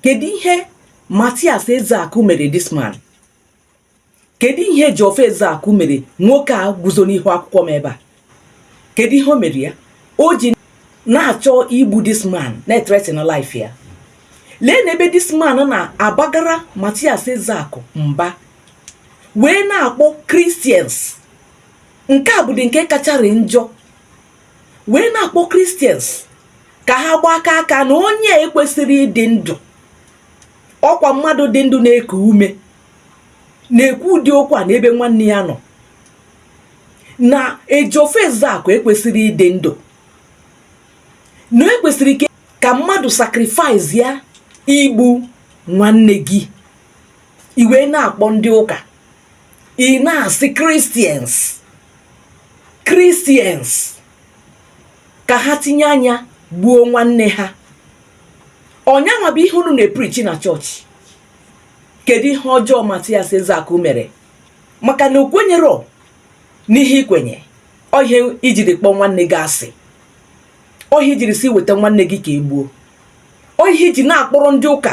kedu ihe Matias Ezeaku mere this man kedu ihe Ejiofor Ezeaku mere nwoke a guzo n'ihu akwụkwọ m ebe a kedu ihe o mere ya o ji na-achọ igbu this man na-etretin life ya lee na ebe this man na-abagara Matias Ezeaku mba wee na-akpọ Christians nke a bụdị nke kachara njọ wee na-akpọ Christians ka ha gbakọ aka na onye a ekwesịrọ ịdị ndụ ọ kwa mmadụ dị ndụ na-eku ume na-ekwu ụdị okwu a n'ebe nwanne ya nọ na Ejiofor Ezeakụ ekwesịrọ ịdị ndụ na e kwesịrị ka mmadụ sacrifice ya igbu nwanne gị ị wee na-akpọ ndị ụka ị na-asị Christians Christians ka ha tinye anya gbuo nwanne ha ọ nyanwa bụ ihe unu na-eprichi na chọọchị kedu ihe ọjọọ Matias Ezeakụ mere maka na o kwenyerọ n'ihe i kwenye ọ ihe i jiri kpọọ nwanne gị asị ọ ihe i jiri sị weta nwanne gị ka e gbuo ọ ihe i ji na-akpọrọ ndị ụka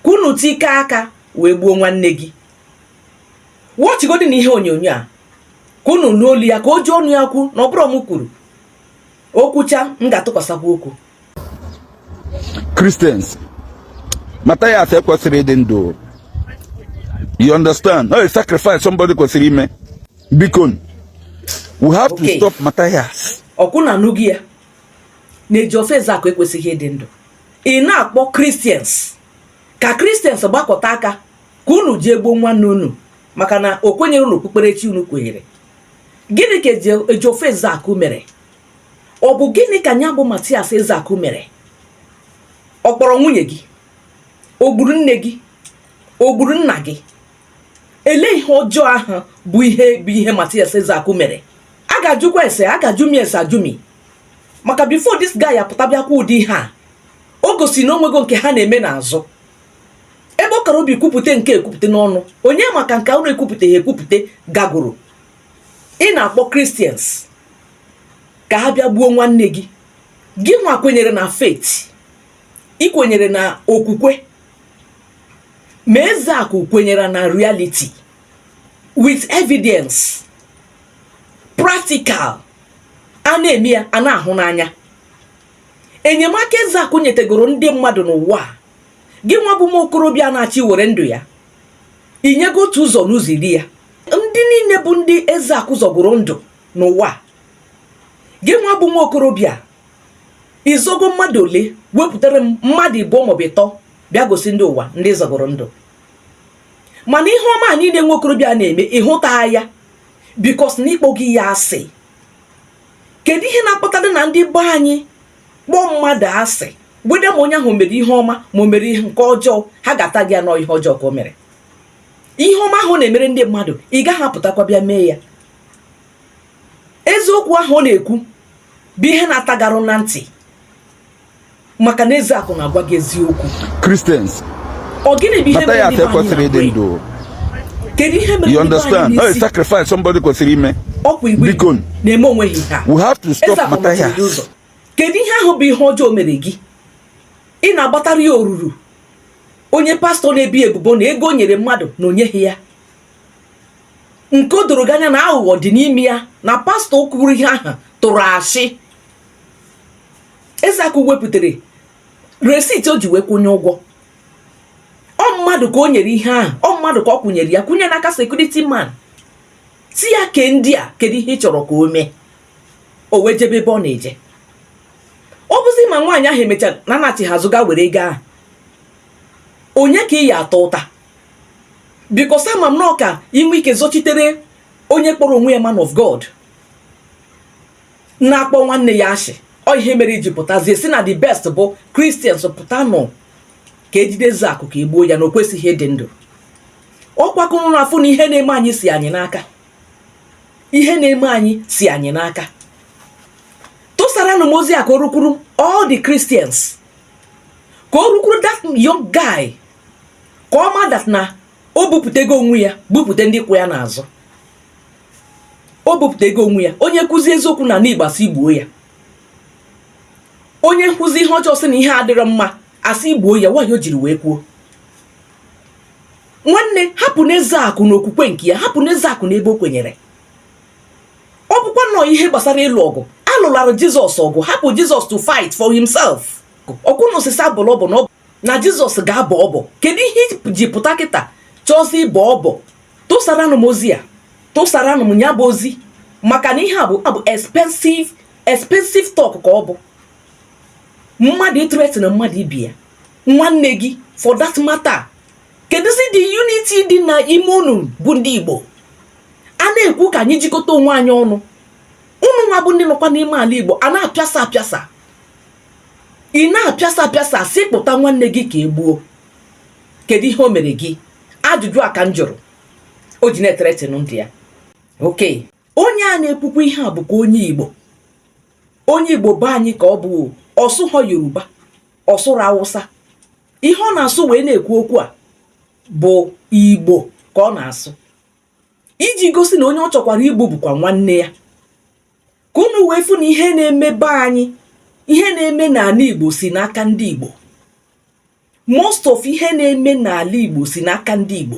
ka unu tikọọ aka wee gbuo nwanne gị wọchigodi na ihe onyonyo a ka unu nụ olu ya ka o ji ọnụ ya kwuo na ọ bụrọ m kwuru o kwuchaa m ga-atụkwasakwu okwu Christians Matthias ekwesịrọ ịdị ndụ you understand na ọ sacrifice somebody kwesịrị ime biko we have to stop Matthias ọ kwa unu anụgo ya na Ejiofor Ezeaku ekwesịghị ịdị ndụ ị na-akpọ Christians ka Christians gbakọta aka ka unu jee gbuo nwanne unu maka na o kwenyerọ n'okpukperechi unu kwenyere gịnị ka Ejiofor Ezeakụ mere ọ bụ gịnị ka nya bụ Matias Ezeakụ mere ọ kpọrọ nwunye gị o gburu nne gị o gburu nna gị ele ihe ọjọọ ahụ bụ ihe bụ ihe Matias Ezeakụ mere a ga-ajụkwa ese a ga-ajụ m ese ajụ m maka before this guy apụta bịa kwuo ụdị ihe a o gosi na o nwego nke ha na-eme n'azụ ebe ọ kara obi kwupụta nke a ekwupụta n'ọnụ onye ma ka nke unu ekwupụtaha ekwupụta gagoro ị na-akpọ Christians ka ha bịa gbuo nwanne gị gị nwa kwenyere na faith ị kwenyere na okwukwe ma Ezeakụ kwenyere na reality with evidence practical a na-eme ya a na-ahụ n'anya enyemaka Ezeakụ nyetegoro ndị mmadụ n'ụwa a gị nwa bụ nwa okorobịa na-achọ iwere ndụ ya i nyego otu ụzọ n'ụzọ iri ya ndị niile bụ ndị Ezeaku zọgoro ndụ n'ụwa gị nwa bụ nwa okorobịa ị zọgo mmadụ ole wepụtara m mmadụ ịbụọ maọbụ ịtọ bịa gosi ndị ụwa ndị zọgoro ndụ mana ihe ọma niile nwa okorobịa na-eme ị hụta ya because na ị kpọ gị ya asị kedu ihe na-akpatara na ndị be anyị kpọọ mmadụ asị whether ma onye ahụ mere ihe ọma ma o mere ihe nke ọjọọ ha ga-ata gị ya na ọ ihe ọjọọ ka o mere ihe ọma ahụ ọ na-emere ndị mmadụ ị gaghị apụtakwa bịa mee ya eziokwu ahụ ọ na-ekwu bụ ihe na-ata gị arụ na ntị maka na Ezeaku na-agwa gị eziokwu Christians ọ gịnị bụ ihe mere na o kwesịghị ịdị ndụ? kedu ihe mere you understand na ọ sacrifice somebody kwesịrị ime biko na-eme onweghị ha we have to stop Mathias kedu ihe ahụ bụ ihe ọjọọ o mere gị ị na-agbatara ya oruru onye pastọ na-ebi ebubo na ego o nyere mmadụ na o nyeghị ya nke o doro gị anya na aghụghọ dị n'ime ya na pastọ kwuru ihe ahụ tụrụ asị Ezeaku wepụtara receipt o ji wee kwụnye ụgwọ ọ mmadụ ka o nyere ihe ahụ ọ mmadụ ka ọ kwụnyere ya kwụnye n'aka security man sị ya ke ndị a kedu ihe ị chọrọ ka o mee o wee jebe ebe ọ na-eje ọ bụzi ma nwaanyị ahụ emechara na anachi ha zụga were ego ahụ onye ka ị ya-ata ụta because ama m na ọ ka i nwee ike zọchitere onye kpọrọ onwe ya man of God na-akpọ nwanne ya ashị ọ ihe mere i ji pụtazie sị na the best bụ christians pụtanụ ka e jide Ezeaku ka e gbuo ya na o kwesịghị ịdị ndụ ọkwa ka ụnụ na-afụ na ihe na-eme anyị si anyị n'aka ihe na-eme anyị si anyị n'aka tụsaranụ m ozi a ka o rukwuru all the christians ka o rukwuru that young guy ka ọ ma that na o bupụtego onwe ya bupụte ndị kwụ ya n'azụ o bupụtego onwe ya onye kụzie eziokwu na anị igbo a sị gbuo ya onye kụzie ihe ọjọọ sị na ihe adịrọ mma a sị gbuo ya why o jiri wee kwuo nwanne hapụnụ Ezeaku na okwukwe nke ya hapụnụ Ezeaku n'ebe o kwenyere ọ bụkwa na ọ ihe gbasara ịlụ ọgụ alụlara jizọs ọgụ hapụ jizọs to fight for himself ọkwa ụnụ sị sị abọla ọbọ na ọ na jizọs ga-abọ ọbọ kedu ihe i ji pụta kịta chọzie ịbọ ọbọ tụsaranụ m ozi a tụsaranụ m ya bụ ozi maka na ihe a bụ bụ expensive talk ka ọ bụ mmadụ ịthreaten mmadụ igbu ya nwanne gị for that matter kedụzi the unity dị na ime unu bụ ndị igbo a na-ekwu ka anyị jikọta onwe anyị ọnụ ụnụ nwa bụ ndị nọkwa n'ime ala igbo a na-apịasa apịasa ị na-apịasa apịasa sị kpụta nwanne gị ka e gbuo kedu ihe o mere gị ajụjụ a ka m jụrụ o ji na-ethreaten ndị ya okay onye a na-ekwukwa ihe a bụkwa onye igbo onye igbo be anyị ka ọ bụ ọ sụhọ yoruba ọ sụrọ awụsa ihe ọ na-asụ wee na-ekwu okwu a bụ igbo ka ọ na-asụ iji gosi na onye ọ chọkwara igbu bụkwa nwanne ya ka unu wee fụ na ihe na-eme be anyị ihe na-eme n'ala Igbo si n'aka ndị Igbo most of ihe na-eme n'ala Igbo si n'aka ndị Igbo